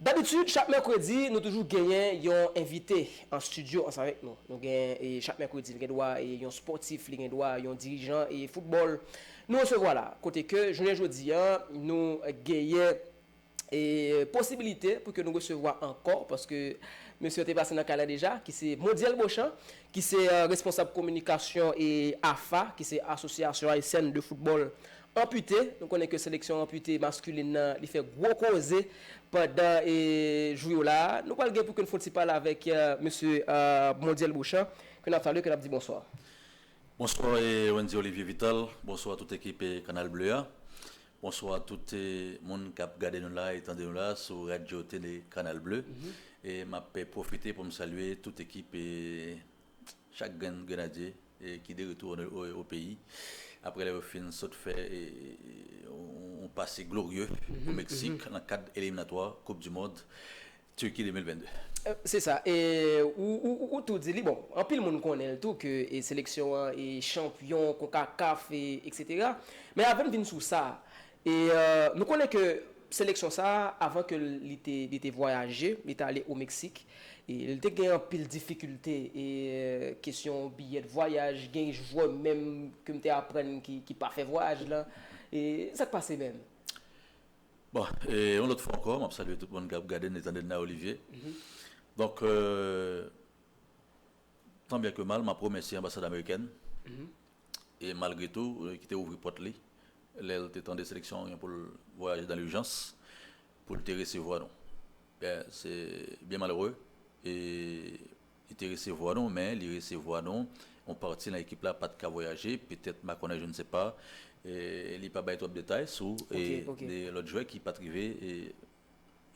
Dabitid chak mèkredi nou toujou genyen yon envite an stidyo ansanm avèk nou. Nou gen chak mèkredi li gen dwa yon spòtif, li gen dwa yon dirijan foutbòl nou resevwa la. Kote ke jounen jodi an nou genyen posibilite pou ke nou resevwa ankò paske mesye an te pase nan kay la deja ki se Mondyèl Bochan ki se responsab kominikasyon AFA ki se Association Haitienne de Football Anpute, nou konnen ke seleksyon anpute maskulin nan li fè gwo koze pandan jou yo la a. Nou pral gen pou ke n fon ti pale avèk mesye Mondyèl Bochan ke n ap salye, ke n ap di bonswa. Bonswa Wendy Olivier Vital, bonswa tout ekip Kanal Ble a, bonswa tout moun k ap gade nou la e tande nou la sou radyo tele Kanal Ble e m ap pwofite pou m salye tout ekip Chak grenn grenadye ki de retou o peyi apre lè yo fin sot fè yon pase glorye o Meksik nan kad eliminatwa koup du mond Turki 2022. Se sa, e ou tou di li, bon anpil moun konnen l tou ke seleksyon an e chanpyon konkakaf eksetera, men avè m vin sou sa, E nou konnen ke seleksyon sa a, avan ke li te li te vwayaje, li te ale o Meksik, e li te gen anpil difikilte, e kesyon biyè de vwayaj, gen jwè menm ke m te aprann ki ki pa fè vwayaj lan, e sa k pase menm? Bon, e yon lòt fwa ankò, m ap salye tout moun k ap gade n e tande n la Olivier. Donk, Tan byen ke mal, m ap remèsye Anbasad Amerikèn e malgre tou ki te ouvri pòt li lè l te tande seleksyon an gen pou l vwayaje dan lijans pou l te resevwa nou. Ben, se byen malere e li te resevwa nou men li resevwa nou yon pati nan ekip la pa t ka vwayaje petèt makònen je ne sais pas e li pa bay twòp detay sou e de lòt jwè ki pa t rive e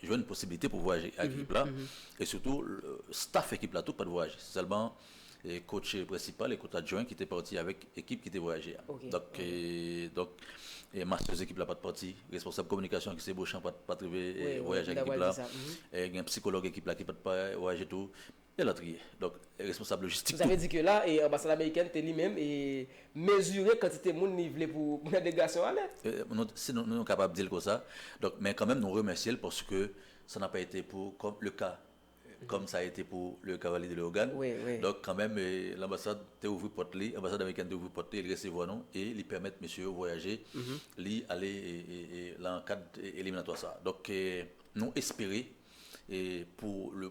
jwenn posibilite pou vwayaje ak ekip la, e sitou staff ekip la tou pat vwayaje, se sèlman kotch prensipal e kotch adjwen ki te pati avèk ekip ki te vwayaje a. Donk masters ekip la pat pati, responsab kominikasyon ki se Beauchamp pat rive vwayaje ak ekip la, gen psikològ ekip la ki pat vwayaje tou. Elatriye. Donk, responsab lojistik tou. Sa vle di ke la, anbasad amerikèn te li menm mezire kantite moun li vle pou nan delegasyon an ale. Si nou kapab di l konsa. Donk, men kanmenm nou remèsye l paske sa n'a pa ete pou kòm le ka kòm sa ete pou le Kavalie de Léogane. Donk, kanmenm lanbasad te ouvri pòt li, anbasad amerikèn te ouvri pòt li, li resevwa nou e li pèmèt mesye yo vwayaje, li ale lan kad eliminatwa sa a. Donk, nou espere pou le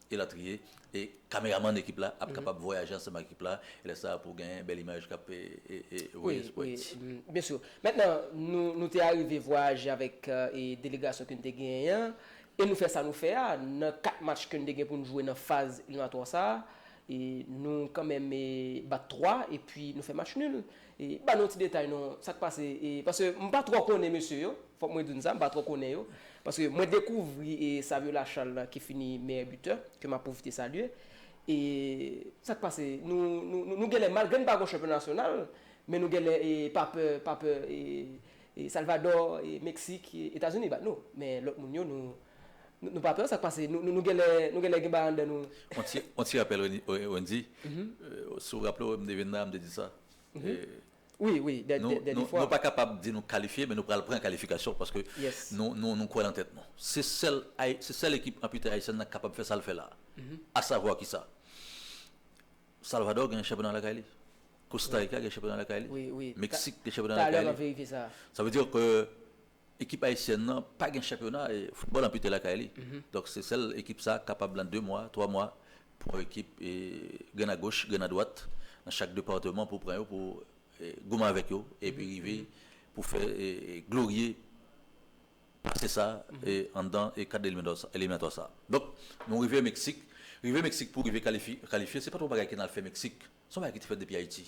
Elatriye, e kameramann ekip la ap kapab vwayaje ansanm ak ekip la, e lè sa a pou gen bèl imaj k ap voye sou pòs. Byen sûr. Mentnan, nou te arive vwayaje avèk delegasyon ke n te genyen an, e nou fè sa nou fè a, nan 4 match ke n te gen pou n jwe nan faz eliminatwa sa a, e nou kanmenm bat 3, e pi nou fè match nul. Ban nou ti detay non, sa k pase, e paske m pa twò konnen mesye yo. Fòk mwen di nou sa, m pa twò konnen yo, paske mwen dekouvri Saviola Charles la ki fini meyè bitè, ke m ap pwofite salye, e sa k pase, nou nou genlè malgre n pa gon chanpyon nasyonal, men nou genlè pa pè pa pè Salvadò, Meksik, Etazini bat nou, men lòt moun yo nou nou pa pè, sa k pase, nou genlè nou genlè gen bagay anndan nou. On ti on ti rapèl Wendy, si w raple w m te vin la m te di sa. Wi, wi, dè dè fwa. Nou pa kapab di nou kalifye, men nou pral pran kalifikasyon paske nou kwè nan tèt nou. Se sèl se sèl ekip anpite ayisyèn nan ki kapab fè sa l fè la a. Asavwa ki sa? Salvadò gen chanpyona lakay li. Kostarika gen chanpyona lakay li. Meksik gen chanpyona lakay li. Sa vle di ke Ekip ayisyèn nan pa gen chanpyona e foutbòl anpite lakay li. Donk se sèl ekip sa kapab lan 2 mwa, 3 mwa pran yon ekip e grenn a goch, grenn a dwat nan chak departeman pou pran yo pou goumen avèk yo epi rive pou fè glorye pase sa anndan kad eliminatwa sa. Donk nou rive Meksik, rive Meksik pou rive kalifye se pat yon bagay ki nan al fè Meksik, se yon bagay ki te fèt depi Ayiti.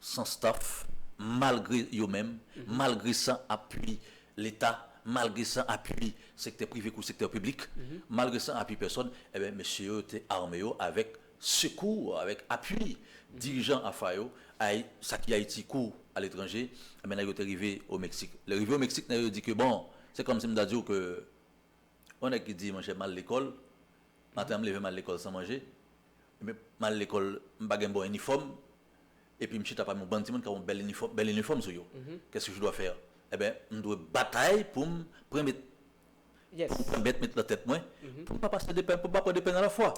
San staff, malgre yo menm, malgre san apui leta, malgre san apui sektè prive kou sektè piblik, malgre san apui pèsòn, enben mesye yo te arme yo avèk sekou, avèk apui dirijan AFA yo, ay, sa ki Ayiti kou aletranje, enben nèg yo te rive o Meksik. Lè rive o Meksik, nèg yo di ke bon, se kòmsi m ta di w ke yon nèg ki di, monchè, m al lekòl, maten an m leve m al lekòl san manje, m al lekòl m pa gen bon inifòm, epi m chita pami yon bann timoun k ap yon bèl inifòm, bèl inifòm sou yo, kès ke je dois faire? Enben, m dwe batay pou m prenmèt, pou m pèmèt met nan tèt mwen, pou m pa pase de pen, pou m pa pran de pen nan lafwa.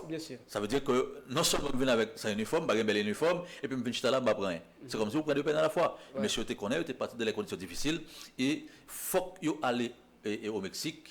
Sa vle di ke non sèlman m vin avèk san inifòm, m pa gen bèl inifòm, epi m vin chita la, m pa pran anyen. Se kòmsi ou pran de pen nan lafwa. Mesye yo te konnen, yo te pati de lè kondisyon difisil, e fòk yo ale o Meksik,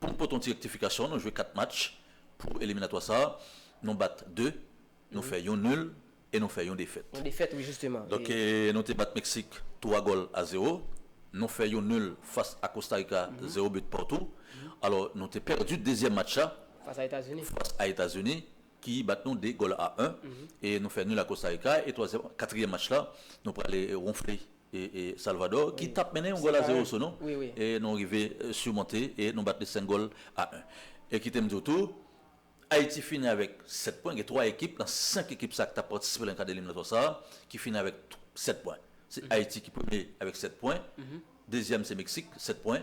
Pou n pote yon ti rektifikasyon, nou jwe 4 match pou eliminatwa sa a, nou bat 2, nou fè yon nul e nou fè yon defèt. Yon defèt wi jisteman. Donk nou te bat Meksik 3 gòl a 0, nou fè yon nul fas a Kostarika 0 but partout. Alò nou te pèdi dezyèm match la Fas a Etazini. fas a Etazini ki bat nou 2 gòl a 1 e nou fè nul a Kostarika e twazyèm, katriyèm match la nou prale wonfle Salvador ki tap mennen yon gòl a 0 sou nou e nou rive simonte e nou bat li 5 gòl a 1. E kite m di w tou, Ayiti fini avèk 7 pwen, gen 3 ekip nan 5 ekip sa ki tap patisipe nan kad eliminatwa sa ki fini avèk 7 pwen. Se Ayiti ki premye avèk 7 pwen, dezyèm se Meksik 7 pwen,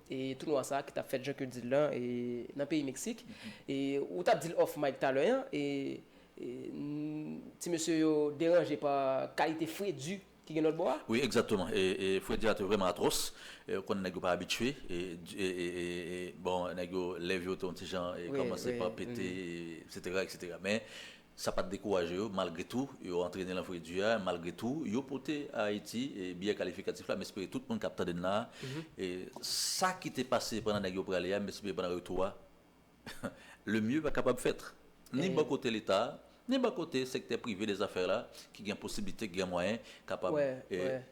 Tounwa sa ki tap fèt jan kew dil lan nan peyi Meksik e ou tap dil off mic talè an e ti mesye yo deranje pa kalite fredi ki gen lòtbò a. Wi egzakteman e fredi a te vrèman atròs ou konn nèg yo pa abitye bon nèg yo lèv yo te yon ti jan kòmanse pa pete eksetera eksetera men Sa pa t dekouraje yo, malgre tou, yo antrene lan fri di a, malgre tou, yo pote a Ayiti biyè kalifikatif la. M espere tout moun k ap tande n la a, sa ki te pase pandan nèg yo prale a, m espere pandan retou a, le mieux va kapab fèt, ni bò kote Leta a, ni bò kote sektè prive de zafè la, ki gen posiblite, ki gen mwayen, kapab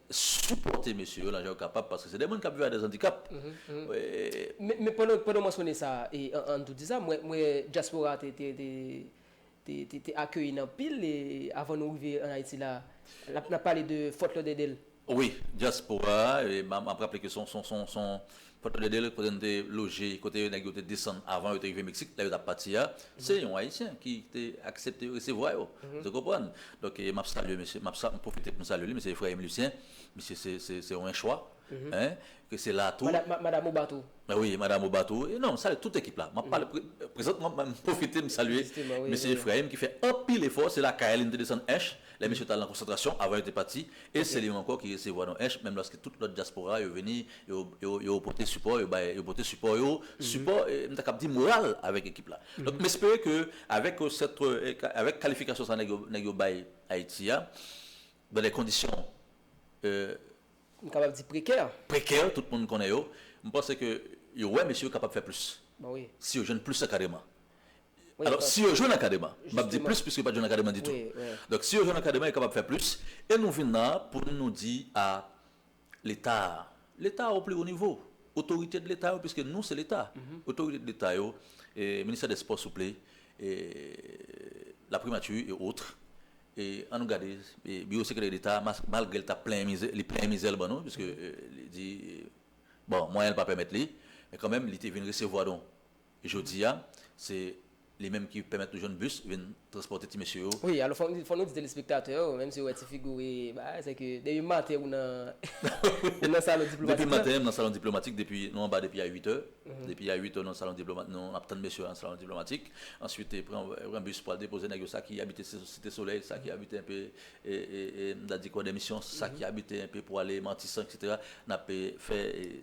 sipòte mesye yo lan jan yo kapab, paske se de moun k ap viv ak dè andikap. Men pandan w mansone sa, an tou di sa, m wè dyaspora a te. te akeyi n anpil avan nou rive an Ayiti la a. N ap pale de Fort Lauderdale. Wi, dyaspora a, m ap raple ke se yon Fort Lauderdale kote nou te loje, kote nèg yo te desann avan yo te rive Meksik, lè yo t ap pati a. Se yon Ayisyen ki te aksepte resevwa yo. Ou konprann? Donk, m ap salye mesye, m ap pwofite pou m salye li, mesye Efrayim Lisyen. Misye se yon enchwa. hein ke se la tou. Madam ou bat ou. Wi madam ou bat ou e non salye tout ekip la map pale prezantman m pwofite m salye mesye Efrayim ki fè anpil efò se lakay li m te desann ench lè mesye t al nan konsantrasyon avan yo te pati e se li menm ankò ki resevwa nou ench menm lòske tout lòt dyaspora yo vini yo pote sipò yo bay yo pote sipò yo sipò m ta kab di moral avèk ekip la donk m espere ke avèk sèt avèk kalifikasyon sa nèg yo bay Ayiti a dan de kondisyon. M kapab di prekè. Prekè, tout moun konnen yo. M panse ke yo wè mesye yo kapab fè plis. Bon wi. Si yo jwenn plis ankadreman. Wi. Alò, si yo jwenn ankadreman. Jisteman. M pap di plis piske yo pa t jwenn ankadreman ditou. Wi, wi. Donk, si yo jwenn ankadreman, yo kapab fè plis. E nou vin nan pou n nou di a Leta a. Leta a o pli wo nivo. Otorite de Leta yo, piske nou se Leta. Otorite de Leta yo, Ministè dè Spò souple, Laprimati e otre, An nou gade biwo sekretè deta malgre li tap plenyen mizè li plenyen mizè l ban nou piske li di bon mwayen l pa pèmèt li men kanmenm li te vin resevwa nou jodi a se li menm ki pèmèt nou jwenn bis vin transpòte ti mesye yo. Wi alò fò nou di telespektatè yo menm si yo wè ti figi w e bagay se ke depi maten ou nan ou nan salon diplomatik lan. Depi maten m nan salon diplomatik depi nou anba depi a 8 è depi a 8 è nou nan salon diplomatik nou ap tann mesye yo nan salon diplomatik. Answit pran pran bis pou al depoze nèg yo sa ki abite site solèy sa ki abite enpe m ta di kòdemisyon sa ki abite enpe pou ale matisan etc n ap fè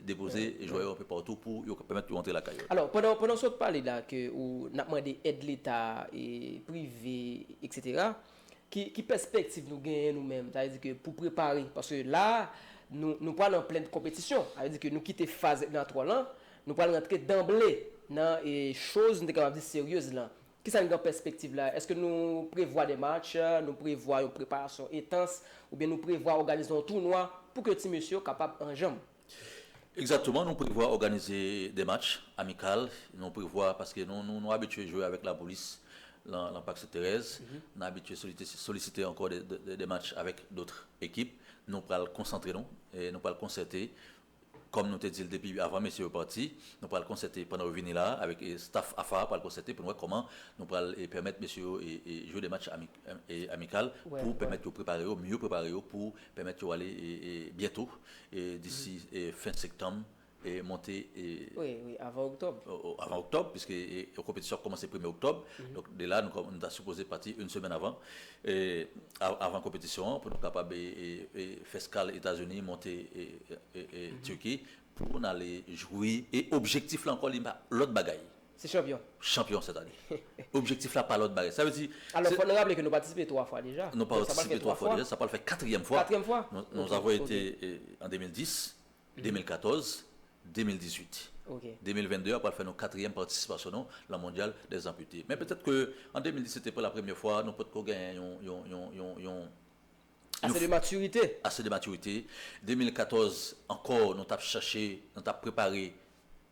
depoze jwè yo anpe patou pou yo pèmèt yo antre lakay yo. Alò pandan pandan sa w t pale la ke ou n ap mande èd leta e prive etc ki ki pèspektiv nou genyen nou menm sa vle di ke pou prepare paske la nou nou pa nan plen konpetisyon sa vle di ke nou kite faz eklinatrwa lan Nou pral rantre danble nan choz nou te kapab di seryez lan. Kisa n gen pèspektiv la? Eske nou prevwa de match, nou prevwa yon preparasyon entans, oubyen nou prevwa òganize yon tounwa pou ke ti mesye yo kapab anjanm? Egzakteman, nou prevwa òganize de match amikal, nou prevwa paske nou abitye jwe avèk Lapolis lan Pak Sent Terèz, nou abitye solisite ankò de match avèk dotr ekip. Nou pral konsantre nou, nou pral konsète Kòm nou te di l depi avan mesye yo pati, nou pral konsète pandan yo vini la a avèk staff AFA a pral konsète pou nou wè kòman nou pral pèmèt mesye yo jwe 2 match amikal pou pèmèt yo prepare yo, miyo prepare yo pou pèmèt yo ale byento, disi fen sektanm, monte. Wi, wi, avan oktòb. Avan oktòb, piske konpetisyon ap kòmanse premye oktòb, donk de la nou ta sipoze pati yn semèn avan. e avan konpetisyon an pou nou kapab fè skal Etazini monte Turki pou n ale jwi e objektif la ankò li pa lòt bagay. Se chanpyon. Chanpyon sèt ane. Objektif la pa lòt bagay. Sa vle di. Alò fò nou raple ke nou patisipe 3 fwa deja. Nou patisipe 3 fwa deja, sa pral fè katriyèm fwa. Katriyèm fwa. Nou avon ete an 2010. 2014, 2018. 2022 a pral fè nou katriyèm patisipasyon nou lan mondyal dè zanpite. Men petèt ke an 2010 se te pou la premyè fwa nou potko genyen yon. Ase de matirite. Ase de matirite. 2014 ankò nou tap chache, nou tap prepare.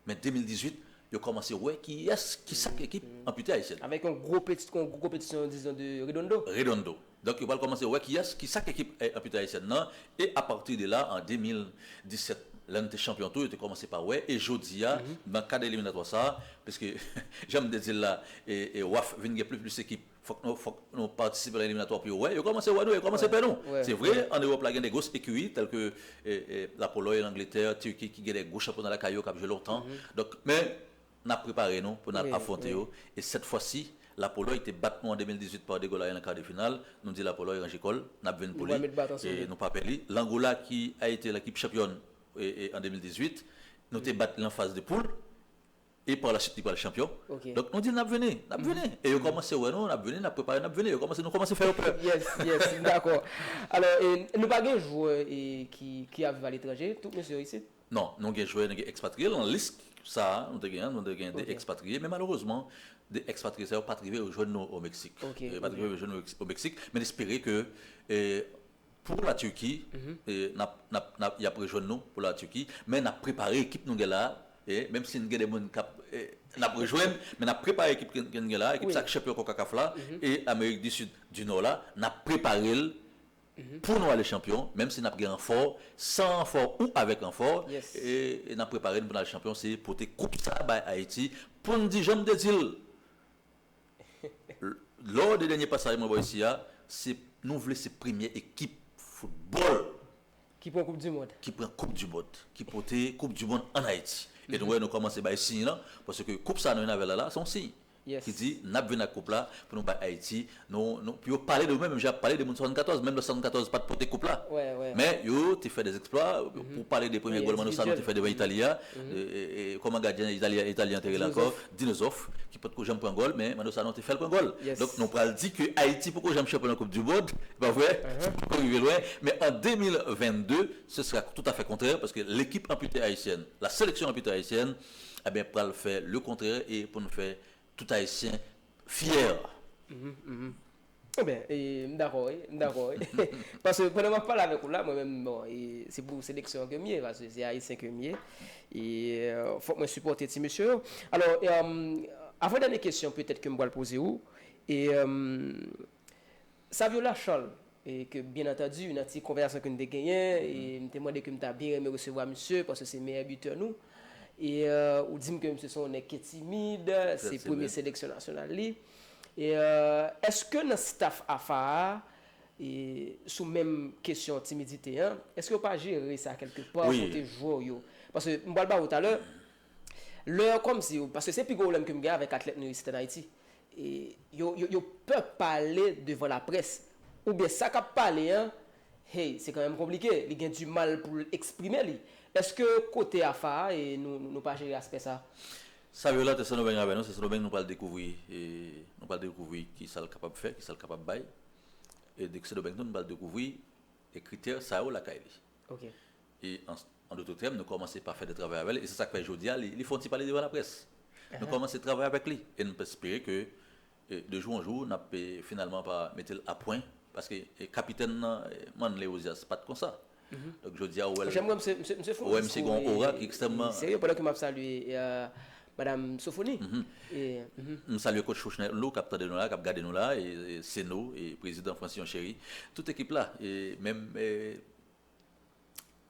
Men 2018, yo kòmanse wè kiyès ki sak ekip anpite Ayisyen. Avèk yon gwo konpetisyon dizon de Redondo. Redondo. Donk yo pral kòmanse wè kiyès ki sak ekip anpite Ayisyen nan e apati de la an 2017 lè n te chanpyon tou yo te kòmanse pa wè e jodi a nan kad eliminatwa sa piske jan m te di l la waf vin gen plis plis ekip Fòk nou fòk nou patisipe nan eliminatwa pou yo wè. Yo kòmanse wè nou e yo kòmanse pè nou. Se vre, an Ewòp la gen de gros ekiri tèlke Lapolòy, Langletè, Tirki ki gen de gwo chanpyona lakay yo k ap jwe lontan. Donk, men, n ap prepare nou pou n al afwonte yo. E sèt fwa si, Lapolòy te bat nou an 2018 pa 2 gòl a 1 nan kar de final, nou di Lapolòy ranje kò l, n ap vin pou li e nou pa pè li. Langola ki a ete lekip chanpyòn an 2018, nou te bat li nan faz de poul. E par la suite li pral chanpyon. Donk nou di l n ap vini, n ap vini. E yo kòmanse wè nou, n ap vini, n ap prepare, n ap vini. Yo kòmanse, nou kòmanse fè yo pè. Yes, yes, m dakò. Alò, e nou pa gen jwè e ki ki ap viv aletranje? Tout mesye yo isit? Non, nou gen jwè, nou gen ekspatriye. Lan lis sa a nou te gen an, nou te gen 2 ekspatriye. Men malerezman, 2 ekspatriye sa yo pa t rive yo jwenn nou o Meksik. Yo pa t rive yo jwenn nou o Meksik. Men espere ke e Pou la Turquie, y ap rejwenn nou pou la Turquie. Men n ap prepare ekip nou gen la a. Menm si n gen de moun k ap, n ap rejwenn. Men n ap prepare ekip ke n gen la a. Ekip sa a ki chanpyon konkakaf la e amerik di sid, di nò la. N ap prepare l pou nou ale chanpyon. Menm si n ap gen ranfò, san ranfò ou avèk ranfò. E n ap prepare n pou n al chanpyon. Se pote koup sa a bay Ayiti pou n di jan m te di l. Lò de dènye pasaj mwen ba w isi a, se nou vle se premye ekip foutbòl. Ki pran koup dimond. Ki pran koup dimond. Ki pote koup dimond an Ayiti. E nou wè nou kòmanse bay siy lan, paske koup sa a nou vin avè l la, se yon siy. Ki di n ap vin ak koup la pou nou bay Ayiti. Nou, pou yo pale de nou menm jan y ap pale de moun 74, menm lè 74 pa t pote koup la. Men yo te fè dezèksplwa. Pou pale de premye gòlman nou sa nou te fè devan Itali a, kòman gadyen Itali an te rele ankò? Dino Zoff ki potko janm pran gòl men Mano Sanon te fèl pran gòl. Donk nou pral di ke Ayiti poko janm chanpyon nan koup du mond, e pa vre? Li poko rive lwen, men an 2022 se sera tout afè kontrè paske lekip anpute ayisyèn, la seleksyon anpute ayisyèn enben pral fè le kontrè e pou nou fè tout ayisyen fyè. Enben, e, m dakò wi, m dakò wi. Paske pandan m ap pale avèk ou la, mwen menm, bon, e, se pou seleksyon ke m ye, paske se Ayisyen ke m ye, e, fòk mwen sipòte ti mesye yo. Alò, e, avan dènye kesyon petèt ke m pral poze ou, e, Saviola Charles, e, ke byen antandi nan ti konvèzasyon ke nou te genyen, e, m te mande ke m ta byen renmen resevwa misye, paske se meyè bitè nou, e, ou di m ke misye se yon nèg ki timid, se premye seleksyon nasyonal li. Eske nan staff afa a sou menm kesyon timidite an eske yo pa jere sa kelke pa kote jwè w yo paske m pral ba ou talè lè komsi paske se pi gwo pwoblèm ke m gen avèk atlèt nou isit an Ayiti yo pè pale devan laprès oubyen sa kap pale an hey se kanmenm konplike li gen di mal pou l eksprime li eske kote afa a nou pa jere aspè sa? Saviola te sendomeng avè nou se sendomeng nou pral dekouvri nou pral dekouvri kisal kapab fè kisal kapab bay e de sendomeng tou nou pral dekouvri e kritè sa yo lakay li e an doto tèm nou kòmanse pa fè de travay avèl e se sak fè jodia li fon ti pale devan laprès nou kòmanse travay avèk li e nou pèspere ke De jou an jou, n ap finalman pa mete l apwen, paske kapitèn nan, Manley Ozias, pa t konsa. Donk jodi a ou wè l, ou wè misye gen yon ora ki ekstrèmman. M salye Coach Fouchnel Lou k ap tande nou la, k ap gade nou la, Seno, Prezidan Francillon Chéry, tout ekip la, menm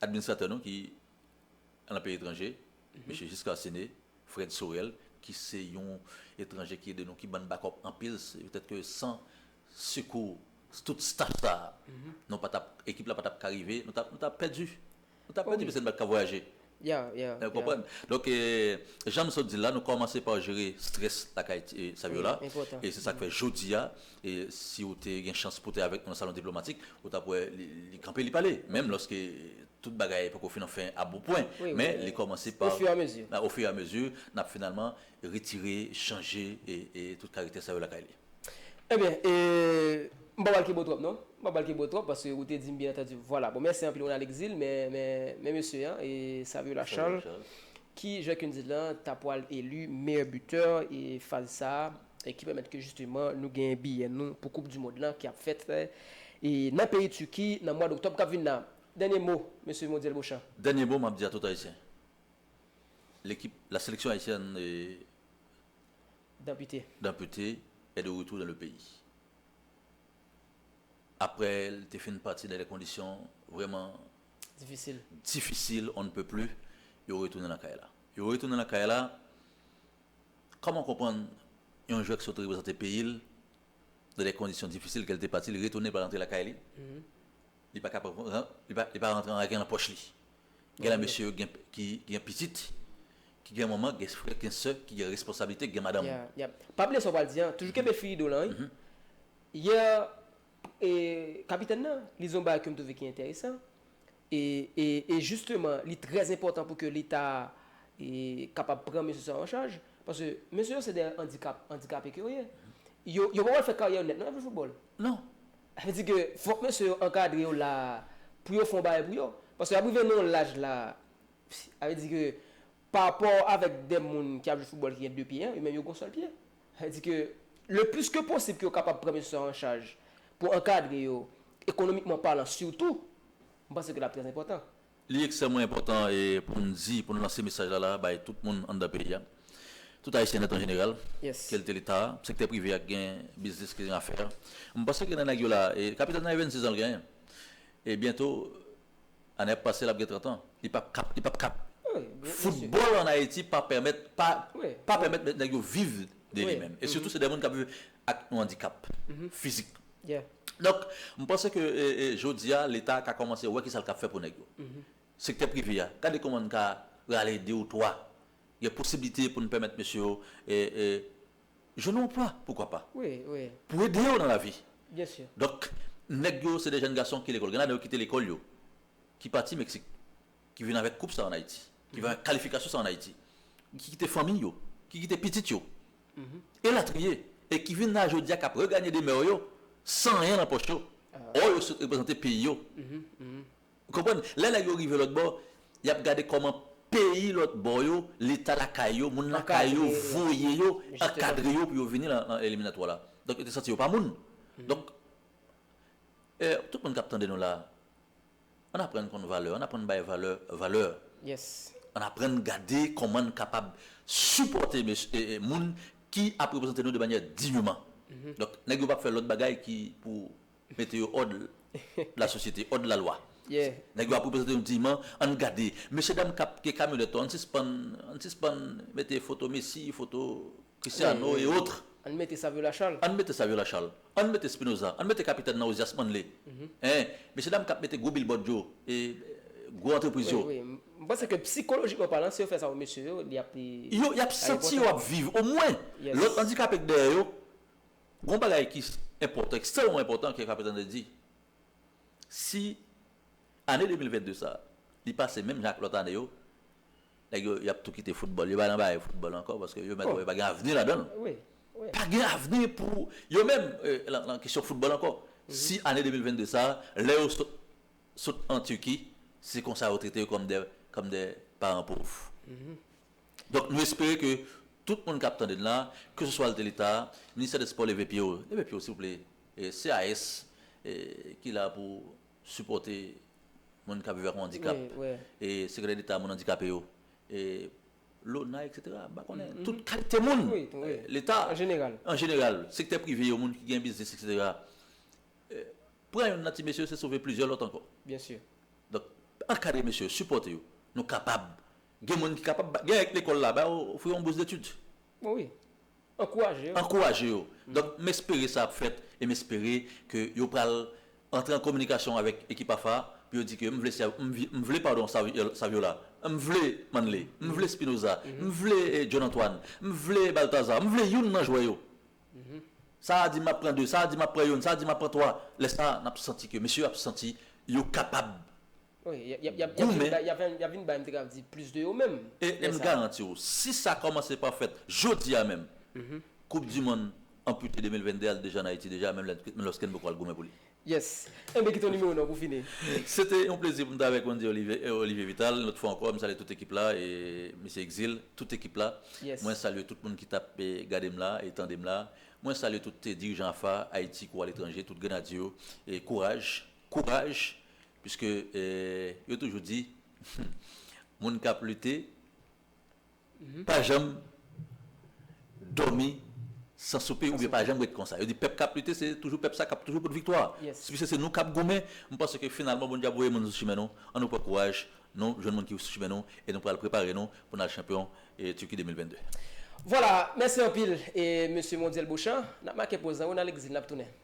administratè nou ki. nan peyi etranje, Mesye Giscard Séné, Fred Sorel, ki se yon etranje ki ede nou, ki ban n bakòp anpil, se petèt ke san sekou tout staf sa a, nou pa t ap, ekip la pa t ap ka rive, nou ta ap pèdi. Nou ta pèdi paske nou pa t ka vwayaje. Ou konprann? Donk, jan m sot di l la, nou kòmanse pa jere strès lakay Saviola e se sa k fè jodi a, E si ou te gen chans pou te avèk nou nan Salon Diplomatik, ou t ap wè li kanpe, li pale, menm lòske tout bagay poko fin anfen aboupwen, men li kòmanse pa, ofiyamezi, n ap finalman retire, chanje tout karektè sa yo lakay li. Enben, e m pa pral kibo twòp non, m pa pral kibo twòp paske ou te di m byen antandi, vwala. Bon, mèsi anpil Ronaldexil, men, men, men mesye an, e Saviola Charles, ki, jan ke n di l lan, ta pwal eli meyè bitè e faz sa a, e ki pèmèt ke jisteman nou genyen biyè nou pou koup du mond lan ki ap fèt e nan peyi Turki nan mwad oktòb kap vin nan. Dènye mo Mesye Modiel Beauchamp. Dènye mo map di a tout ayisyen lekip la seleksyon ayisyèn Dampute. Dampute est de retour dans le pays aprè l te fin pati nan de kondisyon vrèman Difisil. difisil on ne peut plus yo retounen lakay la yo retounen lakay la Kòman w konprann yon jwè ki sot reprezante peyi l nan de kondisyon difisil ke l te pati, li retounen, li pa rantre lakay li, li pa kapab, li pa rantre an lajan nan pòch li? Gen la mesye yo ki gen pitit, ki gen manman, gen frè, gen sè, ki gen responsablite, ki gen madanm. Pa bliye sa w pral di an, toujou kenbe fil ido w lan wi. Yè, kapitèn nan, li di yon bagay ke m twouve ki enteresan. E e e jisteman li trè enpòtan pou ke leta e kapab pran mesye sa yo an chaj, paske mesye yo se dè andikap, andikape ke yo ye. Yo yo pa pral fè karyè yo nèt non nan jwe foutbòl. Non. Sa vle di ke fòk mesye yo ankadre yo la a pou yo fè yon bagay pou yo. Paske y ap rive nan yon laj la a, sa vle di ke Parapò avèk 2 moun ki ap jwe foutbòl ki gen 2 pye an, yo menm yo gen yon sèl pye. Sa vle di ke le plis ke posib ke yo kapab pran mesye sa an chaj pou ankadre yo ekonomikman palan sitou, m panse ke l ap trè enpòtan. Li ekstrèmman enpòtan pou n di, pou n lanse mesaj la la a bay tout moun anndan peyi a, tout Ayisyen nèt an jeneral, kelte Leta a, sektè prive a ki gen biznis, ki gen afè. M panse ke nan nèg yo la a, kapital nan e 26 an l genyen, e byento Ane ap pase lap gen 30 ans li pap kap li pap kap football an Haiti pa pèmèt pa pa pèmèt nèg yo viv de li menm e sitou se de moun kap viv ak yon andikap fizik donk m panse ke jodi a leta ka kòmanse wè kisal kap fè pou nèg yo sektè prive a gade kòman n ka rale 2 ou 3 gen posiblite pou n pèmèt mesye yo e e. Jwenn yon anplwa poukwa pa. Wi, wi. Pou ede yo nan lavi. Byen si. Donk, nèg yo se de jèn gason ki lekòl. Gen ladan yo kite lekòl yo, ki pati Meksik, ki vin avèk koup sa yo ann Ayiti, ki vin avèk kalifikasyon sa yo ann Ayiti, ki kite fanmi yo, ki kite pitit yo, elatriye, e ki vin la jodi a k ap reganye demè yo san anyen nan pòch yo, ò yo sot reprezante peyi yo. Ou konprann? Lè nèg yo rive lòt bò, y ap gade kòman peyi lòt bò yo, leta lakay yo, moun lakay yo voye yo, ankadre yo pou yo vini nan eliminatwa la. Donk yo te santi yo pa moun. Donk, tout moun k ap tande nou la, ann aprann konn valè, ann aprann bay valè valè. Ann aprann gade kòman n kapab sipòte moun ki ap reprezante nou de manyè digneman. Donk, nèg yo pa ap fè lòt bagay ki pou. Mete yo òd la sosyete, òd la lwa. Nèg yo ap reprezante nou diyman, ann gade. Mesye dam k ap gen kamyonèt yo, ann sispann, ann sispann mete foto Messi, foto Christiano e otre. Ann mete Savio Lachal. Ann mete Savio Lachal. Ann mete Spinoza. Ann mete kapitèn nan Ozias Manlé. Hein. Mesye dam k ap mete gwo bilbòd yo, e gwo antrepriz yo. Wi, wi. M panse ke psikolojikman palan, si yo fè sa pou mesye yo, li ap. Yo, y ap santi yo ap viv. Omwen, lòt andikape k dèyè yo, Gon bagay ki enpòtan, ekstrèmman enpòtan ke Kapèt Andre di, si ane 2022 sa a, li pase menm jan ak lòt ane yo, nèg yo, y ap tou kite foutbòl. Yo pa nan bagay foutbòl ankò paske yo mèt wè pa gen avni ladan l. Pa gen avni pou yo menm lan kesyon foutbòl ankò. Si ane 2022 sa a, lè yo sot sot an Turquie, se konsa yo trete yo kòm dè kòm dè paran pov. Donk nou espere ke tout moun kap tande n la, ke se swa l te leta, ministè dè spò leve pye yo, leve pye yo silvouplè, CAS ki la pou sipòte moun kap viv ak yon andikap, sekretè deta moun andikape yo, lona etc. M pa konnen, tout kalite moun, leta an jeneral, sektè prive yo, moun ki gen biznis etc. Pran youn nan ti mesye yo se sove plizyè lòt ankò. Donk ankadre mesye yo, sipòte yo, nou kapab Gen moun ki kapab bay, gen lè lekòl la bay ofri yon bous detid. O wi. Ankouraje yo. Ankouraje yo. Donk m espere sa ap fèt e m espere ke yo pral antre an kominikasyon avèk ekip AFA a pou yo di ke m vle Sè, m vle padon Saviola, m vle Manley, m vle Spinoza, m vle John Antoine, m vle Balthazar, m vle youn nan jwè yo. Sa a di m ap pran 2, sa a di m ap pran youn, sa a di m ap pran 3. Lè sa a n ap santi ke mesye yo ap santi yo kapab. Wi, yap vin bay mte kap di plis de yo menm. E m garanti w, si sa kòmanse pa fèt jodi a menm, koup di monn anpute 2022 a li deja an Ayiti deja menm lòske n poko al goumen pou li. Yes. Enben kite yon nimewo non pou fini. Se te yon plezi pou m te avèk Wendy Olivier Vital yon lòt fwa ankò, m salye tout ekip la e Mesye Exil, tout ekip la. Mwen salye tout moun ki tap gade m la e tande m la. Mwen salye tout dirijan AFA, Ayiti kou aletranje, tout grenadye yo. Kouraj! Kouraj! Piske yo toujou di moun k ap lite pa janm dòmi san soupe oubyen pa janm ret konsa. Yo di pèp k ap lite se toujou pèp sa k ap toujou pot viktwa. Piske se nou k ap goumen, m panse ke finalman Bondye ap voye moun sou chimen nou. An nou pran kouraj, nou jwenn moun ki sou chimen nou e nou pral prepare nou pou n al chanpyon Turquie 2022. Vwala, mèsi anpil Mesye Mondyèl Bochan. N ap make poz la wi, n al egzil, n ap tounen.